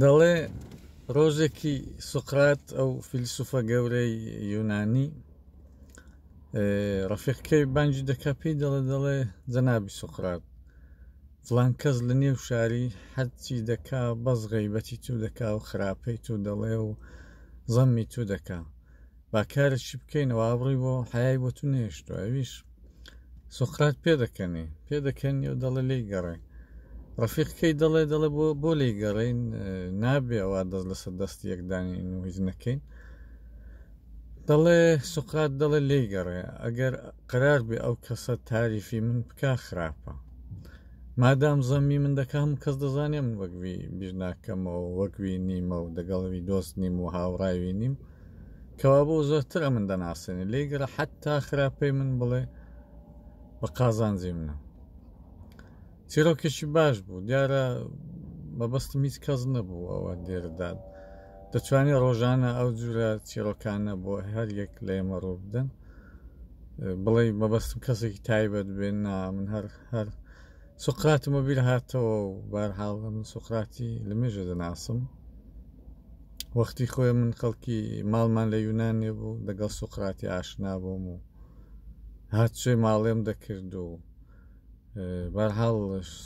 دەڵێ ڕۆژێکی سوقرات ئەو فیلسوفە گەورەی یونانی ڕەفیقکەی بانجی دەکە پێی دەڵێ دەڵێ جەنابی سوقرات فلان کەس لە نێو شاری حەچی دەکا بەس غەیبەتی تو دەکا و خراپەی تو دەڵێ و زەممی تو دەکا با کارێکی بکەینەوە ئابڕی بۆ حیای بۆ تو نێشتو ئەویش سوقرات پێ دەکەنی پێ دەکەنی و دەڵێ لی گەڕێ ڕفیقکەی دەڵێ دەڵێ بۆ بۆ لی گەڕین نابێ ئەوە دەست لەسەر دەست یەکدانی هیچ نەکەین دەڵێ سوقرات دەڵێ لی گەڕێ ئەگەر قرار بێ ئەو کەسە تاریفی من بکە خراپە مادام زەمی من دەکەم کەس دەزانێ من وەکوی بیرناکەمەوە وەکوی نیمە و دەگەڵوی دۆست نیم و هاوڕاوی نیم کەوابوو زۆرتر ئەمن دەناسێنێ لێی گەڕە حتا خراپ پێی من بڵێ بە قازانجی منە چیرۆکێکی باش بوو دیارە مەبەستم هیچ کەس نەبوو ئەوە دێرداد دەتوانێت ڕۆژانە ئەو جورە چیرۆکانە بۆ هەر یەک لە ئێمە ڕوو بدەن بڵێ مەبەستم کەسێکی تایبەت بێن نا من هەر هەر سوقراتمە بیر هاتەوە و بارحاڵ من سوقراتی لە مێژە دەناسم وەختی خۆی من خەڵکی ماڵمان لە یونانێ بوو لەگەڵ سوقراتی ئاشنا بووم و هاتچێ ماڵێم دەکرد و بەرحاڵ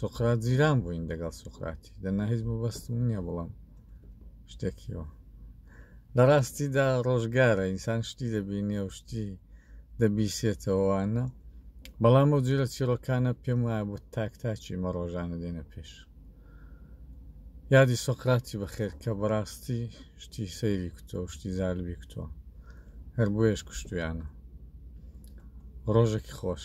سوقرات جیران بووین دەگەڵ سوقراتی دەنا هیچ مەبەستم نییە بڵم شتێکیەوە لە ڕاستیدا ڕۆژگارە ئینسان شتی دەبینێ و شتی دەبیسێتەوەوانە بەڵام ئەو جیرە چیرۆکانە پێم وایە بۆ تاک تاچی مە ڕۆژانە دێنە پێش یادی سۆقراتی بەخێر کە بەڕاستی شتی سەیری کوتۆ شتی زالبی کوتۆ هەر بۆیەش کوشتویانە ڕۆژێکی خۆش